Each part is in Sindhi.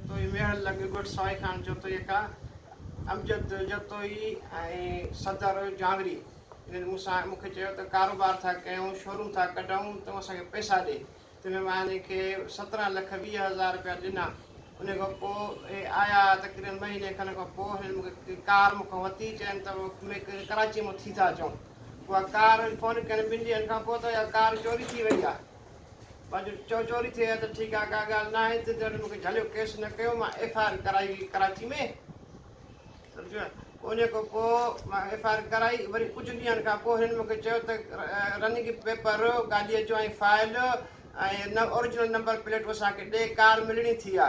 جتوئي ميهڙ لڳ ڳوٺ سوائي خان جتوئيڪا امجد جتوئي ۽ صدر جانوري انهن مون سان مون کي چيو ته ڪاروبار ٿا ڪيون شوروم ٿا ڪڍون تون اسان کي پئسا ڏي تنهن مان انهن کي سترهن لک ويهه هزار رپيا ڏنا انهي کان پوء اهي آيا تقريبن مهيني کن کان پوء هنن مون کي ڪار مون کان ورتي چين ته ميڪ ڪراچي مان ٿي ٿا اچون اها ڪار فون ڪين ٻن ڏينهن کان پوء ته اها ڪار چوري ٿي وئي آهي باجوڙ، چئو چوري ٿئي ها ته ٺيڪ آ، ڪا ڳالهه ناهي، تنهنجي ڏاڏي مون کي جهليو، ڪيس نه ڪيو، مان ايف آء آر ڪرائي هئي ڪراچي ۾، سمجهيو، ان کان پوء مان ايف آء آر ڪرائي، وري ڪجهه ڏينهن کان پوء هنن مون کي چيو ته رننگ پيپر، گاڏيء جو ۽ فائل ۽ اوريجنل نمبر پليٽون اسان کي ڏي، ڪار ملڻي ٿي آ.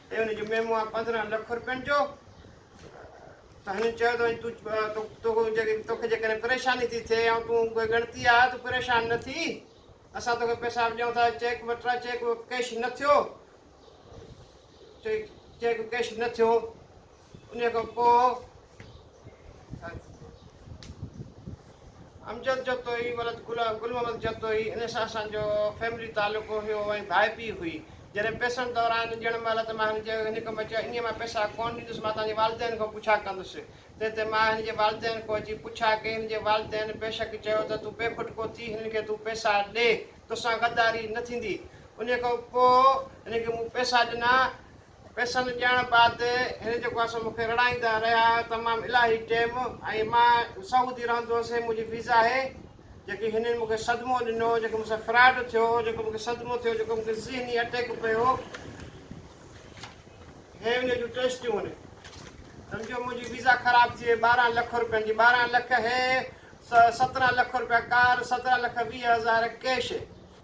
۽ ان جو ميمو آهي پندرهن لک رپين جو ته هنن چيو ته وڃي توکي جيڪڏهن پريشاني ٿي ٿئي يا تون اهي ڳڻتي آ تون پريشان نه ٿي اسان توکي پئسا به ڏيون ٿا چيڪ به ٽرا چيڪ به ڪيش نه ٿيو چيڪ چيڪ ڪيش نه ٿيو انهيء کان پوء امجد جتوئي ولد گل گل محمد جتوئي ان سان اسان جو فيملي تعلق هيو ۽ ڀائپي هئي جڏهن پيسن دوران ڄڻ مهل ته مان هن چيو هن کان بچا ائين مان پيسا ڪون ڏيندس مان تنهنجي والدين کان پڇا ڪندس تنهن تي مان هن جي والدين کان اچي پڇا ڪئي هن جي والدين بيشڪ چيو ته تون بي کٽڪو ٿي هنن کي تون پيسا ڏي توسان غداري نه ٿيندي انهيء کان پوء هن کي مون پيسا ڏنا پئسن ڏيڻ بعد هن جيڪو آهي سو مون کي رڙائيندا رهيا تمام الاهي ٽيم ۽ مان سعودي رهندو هوس هي منهنجي ويزا آهي جيڪي هنن مون کي صدمو ڏنو جيڪو مون سان فراڊ ٿيو جيڪو مون کي صدمو ٿيو جيڪو مون کي ذهني اٽيڪ پيو هي ان جون ٽيسٽيون آهن سمجهو منهنجي ويزا خراب ٿي وئي ٻارهن لک روپين جي ٻارهن لک هي سترهن لک روپيا ڪار سترهن لک ويهه هزار ڪيش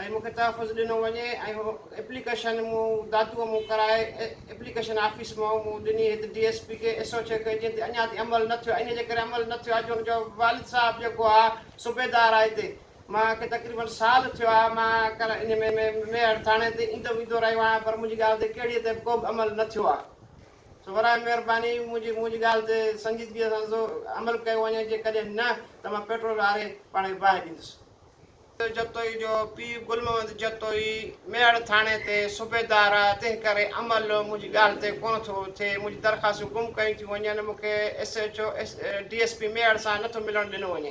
۽ مون کي تحفظ ڏنو وڃي ۽ اهو ايپليڪيشن مون داتوء مون ڪرائي ايپليڪيشن آفيس مان مون ڏني هت ڊي ايس پي کي ايس او چيڪ جنهن تي اڃا تائين عمل نه ٿيو انهيء جي ڪري عمل نه ٿيو آهي جو ان جو والد صاحب جيڪو آهي صوبيدار آهي هتي مان کي تقريبن سال ٿيو آهي مان ڪل انهيء ۾ ميهڙ ٿاڻي تي ايندو ويندو رهيو آهيان پر منهنجي ڳالهه تي ڪهڙيء تي به ڪو به عمل نه ٿيو آهي سو براهه مهرباني منهنجي منهنجي ڳالهه تي سنجيدگيء سان عمل ڪيو وڃي جيڪڏهن نه ته مان پيٽرول آري پاڻ کي باهه ڏيندس. جتوئي جو پيء گل محمد جتوئي ميهڙ ٿاڻي تي صوبيدار آهي، تنهنڪري عمل منهنجي ڳالهه تي ڪونه ٿو ٿئي، منهنجون درخواستون گم ڪيون ٿيون وڃن، مون کي S H O, D S P Mehar سان نه ٿو ملڻ ڏنو وڃي.